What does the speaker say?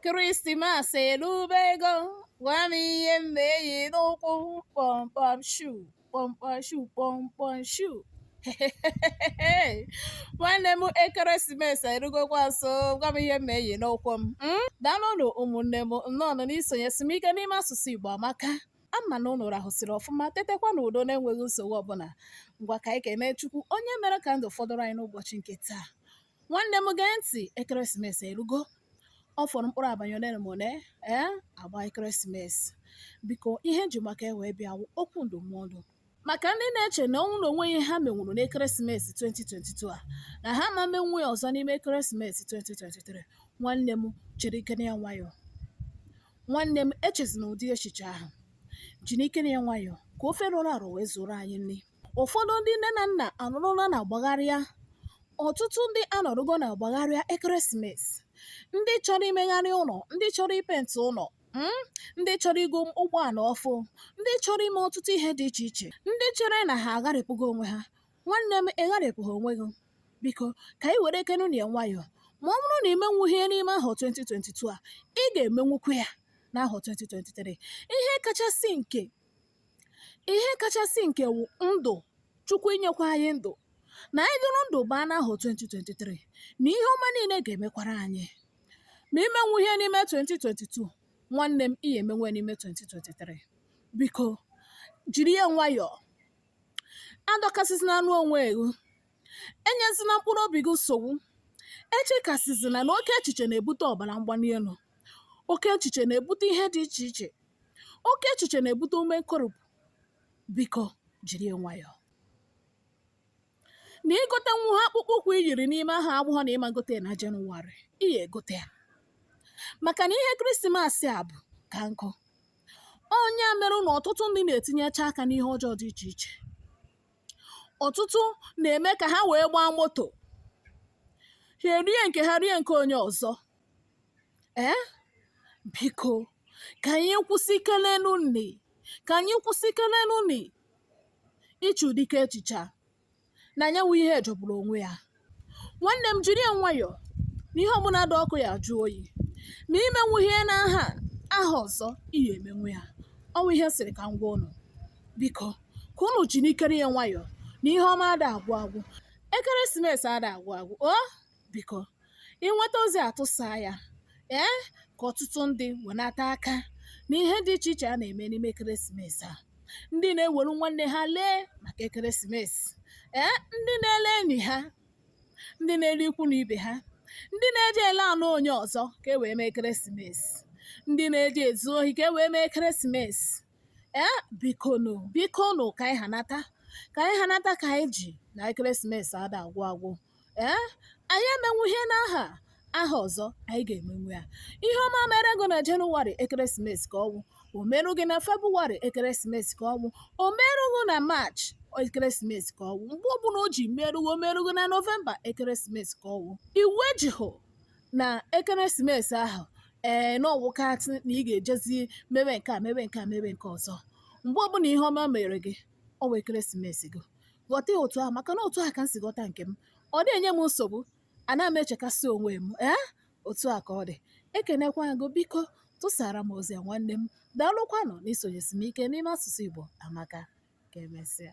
Krismas erubego gwa m ihe m na-eyi n'ụkwụ kpọmkpọm shu kpọmkpọm shu kpọmkpọm shu nwanne m ekeresimesi erugokwa nso gwa m ihe m na-eyi n'ụkwụ m Mm? daalụnụ ụmụnne m nnọọnụ n'isonyesi m ike n'ime asụsụ igbo amaka ama m na ụnụ rahụsiri ọfụma tetekwa n'udo na-enweghị nsogbu ọbụla ngwa ka anyị kene chukwu onye mere ka ndụ fọdụrụ anyị n'ụbọchị nke taa nwanne m gee ntị ekeresimesi erugo ọ fọrọ mkpụrụ abanị ole ma ole ee agba ekeresimesi biko ihe m ji maka ya wee bịa wụ okwu ndụmọdụ maka ndị na-eche na ọ wụ na o nweghị ihe ha menwuru n'ekeresimesi 2022 a na ha ma menwu ya ọzọ n'ime ekeresimesi 2023 nwanne m jirikene ya nwayọọ nwanne m echezina ụdị echiche ahụ jirikene ya nwayọọ ka ofe rọrọ arọ wee zuoro anyị nri ụfọdụ ndị nne na nna anọrọla na-agbagharịa ọtụtụ ndị anọrọgo na-agbagharịa ekeresimesi ndị chọrọ imegharị ụlọ ndị chọrọ ipenti ụlọ mm, ndị chọrọ igo ụgbọala ọfụ ndị chọrọ ime ọtụtụ ihe dị iche iche ndị chere na ha agharịpụgo onwe ha nwanne m ịgharịpụghị onwe gị biko ka anyị werekenụ ya nwayọọ ma ọ bụrụ na i menwughị ya n'ime ahọ 2022 a ị ga-emenwukwu ya n'ahọ 2023 ihe kachasị nke ihe kachasị nke wụ ndụ chukwu inyekwa anyị ndụ na anyị dụrụ ndụ baa n'ahọ 2023 na ihe ọma niile ga-emekwara anyị ma i menwughị ya n'ime 2022 nwanne m ị ya-emenwu ya n'ime 2023 biko jiri ya nwayọọ adọkasịzina anụ onwe gị enyezina mkpụrụ obi gị nsogbu echekasịzina na oke echiche na-ebute ọbara mgbali elu oke echiche na-ebute ihe dị iche iche oke echiche na-ebute ume nkoropụ biko jiri ya nwayọọ na i gotenwuha akpụkpọ ụkwụ i yiri n'ime ahọ a abụghọ na ị ma gote ya na jenụwarị ị ya egote ya maka na ihe krismasị a bụ ka nkụ ọ ya mere na ọtụtụ ndị na-etinyecha aka n'ihe ọjọọ dị iche iche ọtụtụ na-eme ka ha wee gbaa moto ha erie nke ha rie nke onye ọzọ Ee, eh? biko ka anyị kwụsịkelenụnụ ka anyị kwụsịkelenụnụ iche ụdị echiche a na nya wụ ihe jọgburu onwe ya nwanne m jiri ya nwayọọ na ihe ọbụla dị ọkụ ya-ajụ oyi ma i menwughị ya n'ahọ a ahọ ọzọ ị ya-emenwu ya ọ wụ ihe m sịrị ka m gwa ụnụ biko ka ụnụ jirikene ya nwayọọ na ihe ọma ada agwụ agwụ ekeresimesi ada agwụ agwụ o biko ị nweta ozi a tụsaa ya ee ka ọtụtụ ndị wenata aka n'ihe dị iche iche a na-eme n'ime ekeresimesi a ndị na-ewere nwanne ha lee maka ekeresimesi ee ndị na-ele enyi ha ndị na-ele ikwu na ibe ha ndị na-eji ele anụ onye ọzọ ka e wee mee ekeresimesi ndị na-eji ezu ohi ka e wee mee ekeresimesi ee bikonu bikonu ka anyị hanata ka anyị hanata ka anyị ji na ekeresimesi ada agwụ agwụ ee anyị emenwu ihe n'ahọ a ahọ ọzọ anyị ga-emenwu ya ihe ọma mere gị na jenụwarị ekeresimesi ka ọ wụ o merụ gị na febụwarị ekeresimesi ka ọ wụ o merụ gị na maachị ekeresimesi ka ọ wụ mgbe ọbụla o ji merụ gị o merụ gị na nọvemba ekeresimesi ka ọ wụ iwu ejihụ na ekeresimesi ahụ ee na ọ wụkatị na ị ga-ejezi mewe nke a mewe nke a mewe nke ọzọ mgbe ọbụla ihe ọma mere gị ọ wụ ekeresimesi gị ghọta ya otu ahụ maka na otu ahụ ka m si ghọta nke m ọ dị enye m nsogbu ana m echekasị onwe m ee otu a ka ọ dị ekenekwa m gị biko tụsara m ozi a nwanne m daalụkwanụ na i sonyesi m ike n'ime asụsụ Igbo amaka ka emesịa